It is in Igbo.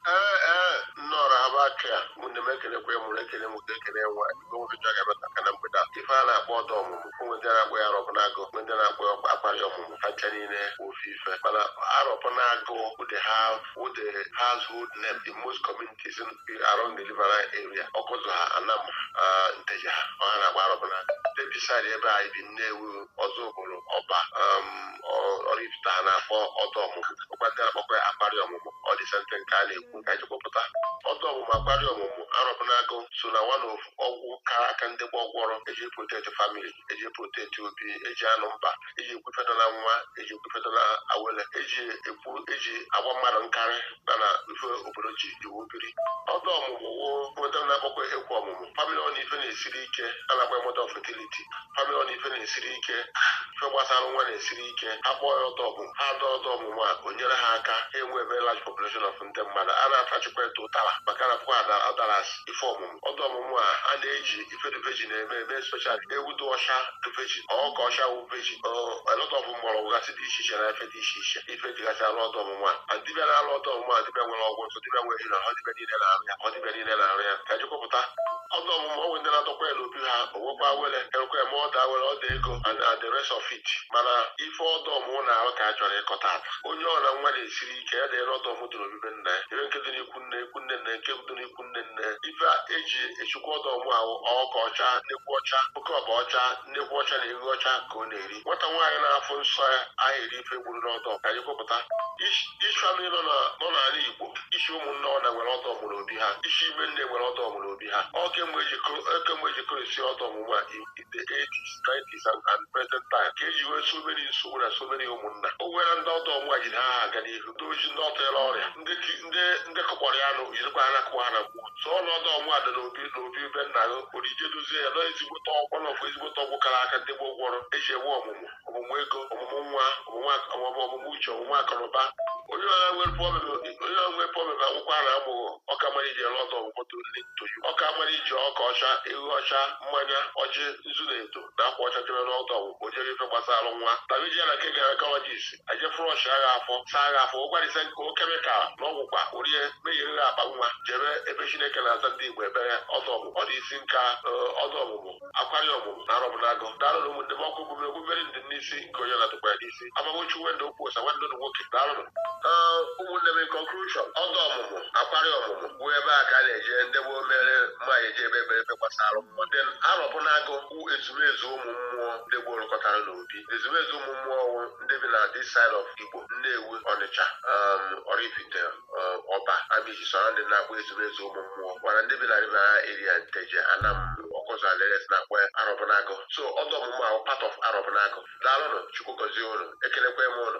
ee ee nnọrọ haba aka ya ụmụnne m ekenekwaa m ụnụ ekene mụta ekene nwa igwe nwoke chọrọ ga-emetụ aka na mgbede a. ife a na-akpọ ọdọ ọmụmụ ụmụ ndị na-akpọ ya arọbụnagụ ụmụ ndị na-akpọ ya akwa akwali ọmụmụ ha ncha niile ofu ife mana arọbụnagụ ụdị ha wụ the household name in most communities around the river area ọkụzụ ha anam uh, nteje ha ọ ha na-akpọ arọbụnagụ this side ebe anyị bi nnewi ọzụbụlụ ọba um, ọraifite ha na-akpọ ọdọ ọmụmụ ọkwa ndị na-akpọkwa ya akwarị ọmụmụ ọ the same thing ka a na-ekwu ka anyị kpọpụta ọdọ ọmụmụ akwarị ọmụmụ arọbụnagụ so na one of ọgwụ kara aka ndị gboo gwọrọ eji protect family eji protect obi eji amụba eji ekwu ife dị na nwa eji ekwu ife dị na awele eji ekwu eji agba mmadụ nkarị na na ife obodo ji iwu biri ọdọ ọmụmụ o nwe ndị na-akpọkwa ekwu ọmụmụ famịlị ọ na ife na-esiri ike a na-akpọ ya mother of fertility famịlị ọ na ife na-esiri ike ife gbasara nwa na-esiri ike ha kpọọ ya ọdọ ọmụmụ ha dọọ ọdọ ọmụmụ a o nyere ha aka ha enwebe large population of ndị mmadụ a na-atachikwa eto ụtara maka na pụkwa adara ife ọmụmụ ọdọ ọmụmụ a a na-eji ife dị virgin na-eme eme special ewu dị ọcha dị virgin ọka ọcha wụ virgin a lot of mgbọrọgwụ gasị dị iche iche na ife dị iche iche ife e jigasị alụ ọdọ ọmụmụ a dibịa na-alụ ọdọ ọmụmụ a dibịa nwere ọgwụ ntụ dibịa nwere na ọ dibịa niile na-arụ ya ọ dibịa niile na-arụ ya ka jikọpụta ọdọ ọmụmụ a o nwe ndị na-adọkwa ya n'obi ha o nwekwa were erekwa eme ọdọ awele ọdọ ego and the rest of it mana ife ọdọ ọmụmụ na-arụ ka a chọrọ ịkọ taata onye ọra nwa na-esiri ike ya dịrị ọdọ ọmụmụ dị n'obi be nna ya ebe nke dị n'ikwu nne ikwu nne nne nke dị n'ikwu nne nne ife eji echukwa ọdọ ọmụmụ ahụ ọka ọcha nnekwu ọcha oke ọkpa ọcha nnekwu ọcha na ewu ọcha ka ọ na-eri nwata nwaanyị na-afụ nsọ ya aha eri ife e gburu n'ọdọ ka anyị kwupụta isi famịlị nọ n'ala igbo isi ụmụnne ọ na nwere ọdọ ọmụmụ n'obi ha isi ime nne nwere ọdọ ọmụmụ n'obi ha ọ kemgbe ejikọ esi ọdọ ọmụmụ a the 80s, 90s and, and present time ka eji nwee so many nsogbu na so many ụmụnna o nwere ndị ọdọ ọmụmụ a jiri ha aga n'ihu ndị o ji ndị ọ tụnyere ọrịa ndị ti- ndị ndị kụkpọrọ ya nụ jirikwa ha nakụwa ha na gbuo so ọnụ ọdọ ọmụmụ a dị n'obi n'obi be nna gị kurie jee dozie ya na ọ ezigbote ọgwụ nọkwa ezigbote ọgwụ kara aka ndị gboo gwọrọ eji enwe ọmụmụ ọmụmụ ego ọmụmụ nwa ọmụmụ ak- ọmụmụ ọmụmụ uche ọmụmụ akụnụba onye ọra nwere problem onye ọra nwere problem akwụkwọ ara amụghọ ọka mara iji ele ọdọ ọmụmụ ndị ntoju ọka mara iji ọka ọcha ewu ọcha mmanya ọjị nzu na edo na akwa ọcha jebe n'ọdọ ọmụmụ onye ife gbasara nwa na meji na nke gynaecologist aje flusha ha afọ saa ha afọ ụgwarịsa nke o kemikal na ọgwụkwa orie mebiri ha akpa nwa jebe ebe chineke na-aza ndị igbo ekpere ọdọ ọmụmụ ọ dị isi nka eh, ọdọ ọmụmụ akwari ọmụmụ na arọbụnagụ daalụnụ ụmụnne m ọkụ omume ogbumeri ndị n'isi nke onye na-atụkwa ya n'isi aha m bụ chinwendụ okwuosa nwanne ụnụ nwoke daalụnụ ụmụnne m conclusion ọda ọmụmụ akwari ọmụmụ bụ ebe a ka a na-eje ndị gboo mere mma e ji ekpe ekpere ebe gbasara ọmụmụ then arọbụnagụ bụ ezumezu ụmụ mmụọ ndị gboo rụkọtara n'obi ezumezu ụmụ mmụọ ọ wụ ndị bi na this side of igbo nnewi ọnịcha um, ọraifite ọba amichi sọrọ ndị na-akpọ ezumezu ụmụ mmụọ mana ndị bi na riverine area nteje anam ọkụzụ and the rest na-akpọ ya arọbụnagụ so ọda ọmụmụ a bụ part of arọbụnagụ daalụnụ chukwu gọzie ụnụ ekelekwa m ụnụ